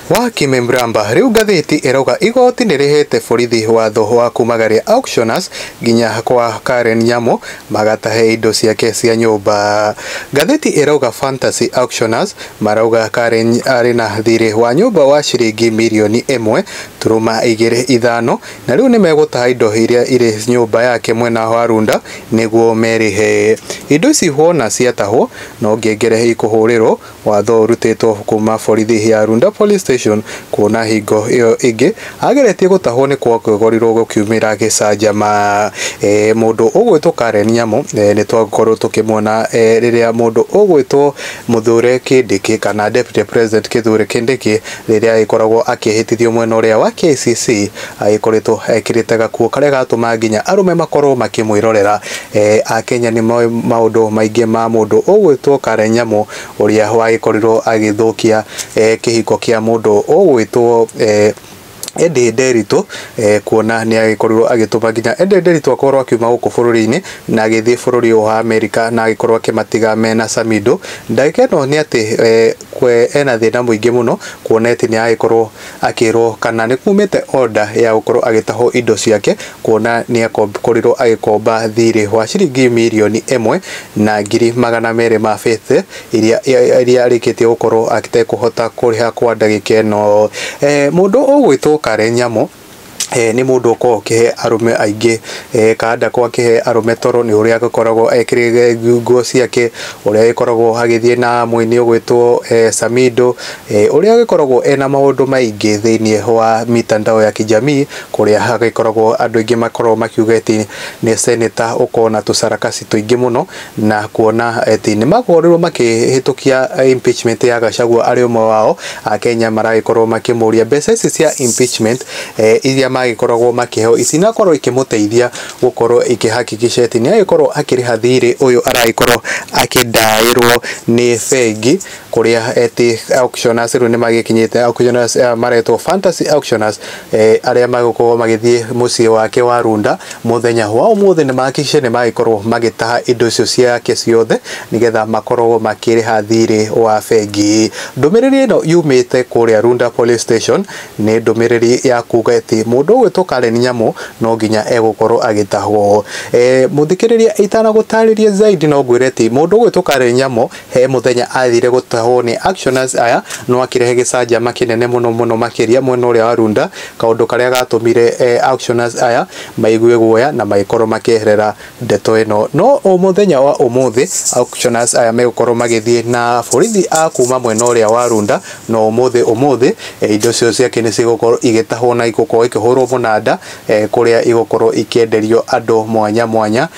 Wa Kime Mramba, Rĩu ngathĩti ĩrauga igoti nĩrĩhete borithi watho wa kumagaria auctioners nginya kwa Karen Nyamu magatahe indo ciake cia nyũmba. Ngathĩti ĩrauga Fantasy Auctioners marauga Karen arĩ na thirĩ wa nyũmba wa ciringi mirioni ĩmwe turuma igĩrĩ ithano na rĩu nĩmegũtaha indo iria irĩ nyũmba yake mwena wa Runda nĩguo merĩhe. Indo ici wona ciatahwo no ngengere ikũhũrĩrwo Watho ũrutĩtwo kuuma borithi ya Runda Police Station kuona hingo ĩyo ĩngĩ ageretie gũtahwo nĩ kwagegoriruo gũkiumĩra gĩcanjama. Mũndũ ũgwĩtwo Karen Nyamũ nĩ twakorwo tũkĩmuona rĩrĩa mũndũ ũgwĩtwo Mũthure Kindiki kana Deputy President Kithure Kindiki rĩrĩa agĩkoragwo akĩhĩtithio mwena ũrĩa wa KCC, Agĩkoretwo ekĩrĩte gakuo karĩa gatũma nginya arũme makorwo makĩmwĩrorera. Akenya nĩ moĩ maũndũ maingĩ ma mũndũ ũgwĩtwo Karen Nyamu ũrĩa wagĩkorirwo agĩthũkia kĩhiko kĩa mũndũ ũgwĩtwo Eddie Nderitu kuona nĩ agĩkorirwo agĩtũma nginya Eddie Nderitu akorwo akiuma gũkũ bũrũri-inĩ na agĩthiĩ bũrũri ũyũ wa Amerika na agĩkorwo akĩmatiga mena camindũ. Ndagĩka ĩno nĩ atĩ ena thĩna mũingĩ mũno kuona atĩ nĩ aragĩkorwo Akĩrwo kana nĩkumĩte order ya gũkorwo agĩtahwo indo ciake kuona nĩakorirwo agĩkomba thirĩ wa ciringi mirioni ĩmwe na ngiri magana merĩ ma bete iria arĩkĩtie gũkorwo atekũhota kũrĩha kwa ndagĩka ĩno. Mũndũ ũgwĩtwo Karen Nyamũ. nĩ mũndũ ũkoragwo ũkĩhe arũme aingĩ kana ndakoragwo akĩhe arũme toro nĩ ũrĩa agĩkoragwo ekĩrĩire nguo ciake, ũrĩa agĩkoragwo agĩthiĩ na mũini ũgwĩtwo Samido, ũrĩa agĩkoragwo ena maũndũ maingĩ thĩiniĩ wa mitandao ya kijamii kũrĩa hagĩkoragwo andũ aingĩ makoragwo makiuga atĩ nĩ ceneta ũkoragwo na tũcarakaci tũingĩ mũno. na kuona atĩ nĩmakorirwo makĩhĩtũkia impeachment ya Gachagua arĩ ũmwe wao, Akenya maragĩkorwo makĩmũria mbeca ici cia impeachment iria magĩkoragwo makĩheo itinakorwo ikĩmũteithia gũkorwo ikĩ hakikisha atĩ nĩagĩkorwo akĩrĩha thirĩ ũyũ aragĩkorwo akĩdaĩrwo nĩ bengi. kuria eti auctioners riu nimagikinyite auctioners eh, maretwo fantasy auctioners eh, aria magukorwo magithie mucii wake wa runda muthenya wa umuthi nimahakikishe nimagikorwo magitaha indo icio ciake ciothe nigetha makorwo makiriha thirĩ wa bengi ndumiriri ino yumite kuria runda police station ni ndumiriri ya kuga eti mundu ugwitwo karen nyamu no nginya egukorwo agitahwo eh, muthikiriria itanagutaririe zaidi no ngwire eti mundu ugwitwo karen nyamu He mũthenya aathire gũtahwo nĩ actioners aya no akĩrehe gĩcanjama kĩnene mũno mũno makĩria mwena ũrĩa wa Runda, kaũndũ karĩa gatũmire actioners aya maigue guoya na magĩkorwo makĩeherera ndeto ĩno. No mũthenya wa ũmũthĩ actioners aya megũkorwo magĩthiĩ na borithi a kuma mwena ũrĩa wa Runda, no ũmũthĩ ũmũthĩ indo cio ciake nĩ cigũkorwo igĩtahwo na igũkorwo ikĩhũrwo mũnanda kũrĩa igũkorwo ikĩenderio andũ mwanya mwanya.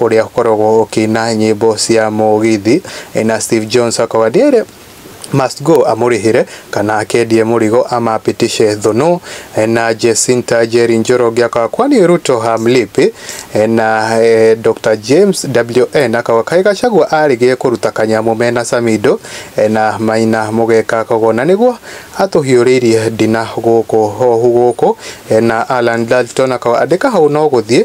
ũrĩa ũkoragwo ũkĩina nyĩmbo cia mũgithi na Steve Jones akauga Dere must go amũrĩhĩre kana akendie mũrigo amapitishe thũnũ na Jesinta Njeri Njoroge akauga kwani Ruto hamlipi na eh, Dr James WN akauga kaĩ Gachagua arĩgĩe kũruta kanyamũ mena Samido eh, na Maina mũgeka kogo na nĩguo atũhiũrĩirie ndina gũkũ hohu gũkũ eh, na Alan Dalton akauga andĩka hau no gũthiĩ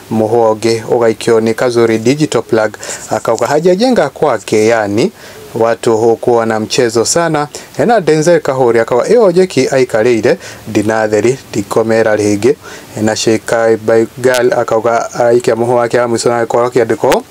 Mũhonge ũgaikio nĩ Kazuri Digital Plug akauga hajajenga kwake, yani watu hukuwa na mchezo sana. Ena Denzel Kahuri akauga ĩyo jeki aikarĩire ndinatheri ndikomera rĩngĩ. Ena Sheikh Baigal akauga aikia mũhũ wake wa mũico na gĩkoro kĩandĩkwo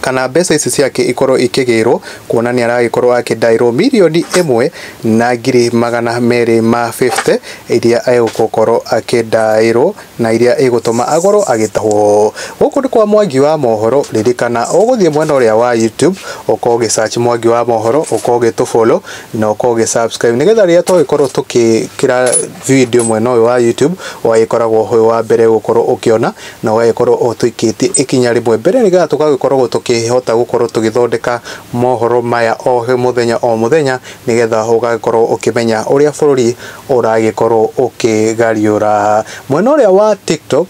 kana mbeca ici ciake ikorwo ikĩgĩrwo kuona nĩ aragĩkorwo akĩndaĩrwo mirioni ĩmwe na ngiri magana merĩ ma 50 iria egũkorwo akĩndaĩrwo na iria igũtũma agorwo agĩtahwo. Gũkũ nĩ kwa Mwangi wa Mohoro, ririkana ũgũthiĩ mwena ũrĩa wa YouTube ũkorwo ũgĩ search Mwangi wa Mohoro, ũkorwo ũgĩtũ follow na ũkorwo ũgĩ subscribe nĩgetha rĩrĩa twagĩkorwo tũgĩkĩra video mwena ũyũ wa YouTube ũgagĩkoragwo wĩ wa mbere gũkorwo ũkĩona. na ũgagĩkorwo ũtũikĩtie ikinya rĩmwe mbere nĩ getha tũgagĩkoragwo tũkĩhota gũkorwo tũgĩthondeka mohoro maya o mũthenya o mũthenya nĩ getha ũgagĩkorwo ũkĩmenya ũrĩa bũrũri ũragĩkorwo ũkĩgariũra. Mwena ũrĩa wa TikTok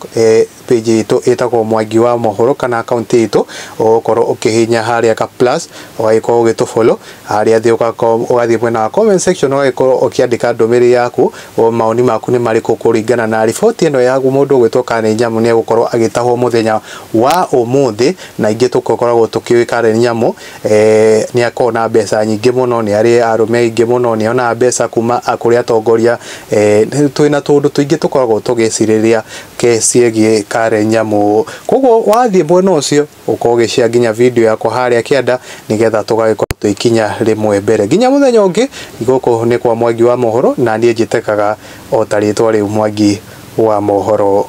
page itũ ĩtagwo Mwangi wa Mohoro kana account itũ ũgũkorwo ũkĩhihinya harĩa ga plus ũgagĩkorwo ũgĩtũ follow Harĩa thĩ ũga com ũgathiĩ mwena wa comment section ũgagĩkorwo ũkĩandĩka ndũmĩrĩri yaku, mawoni maku nĩ marĩkũ kũringana na riboti ĩno ya mũndũ ũgwĩtwo Karen Nyamu nĩ egũkorwo agĩtahwo mũthenya wa ũmũthĩ, na aingĩ tũkoragwo tũkĩũĩ Karen Nyamu nĩ akoragwo na mbeca nyingĩ mũno, nĩ arĩ arũme aingĩ mũno, nĩ onaga mbeca kuma kũrĩ atongoria, twĩna tũũndũ tũingĩ tũkoragwo tũgĩcirĩrĩria ciĩgiĩ Karen Nyamu. Koguo wathiĩ mwena ũcio ũkorwo ũgĩshare nginya video yakwa harĩa kĩanda nĩgetha tũgagĩkorwo tũgĩkinya rĩmwe mbere nginya mũthenya ũngĩ gũkũ nĩ kwa mwangi wa mohoro na niĩ njĩtĩkaga o ta rĩtwa rĩu mwangi wa mohoro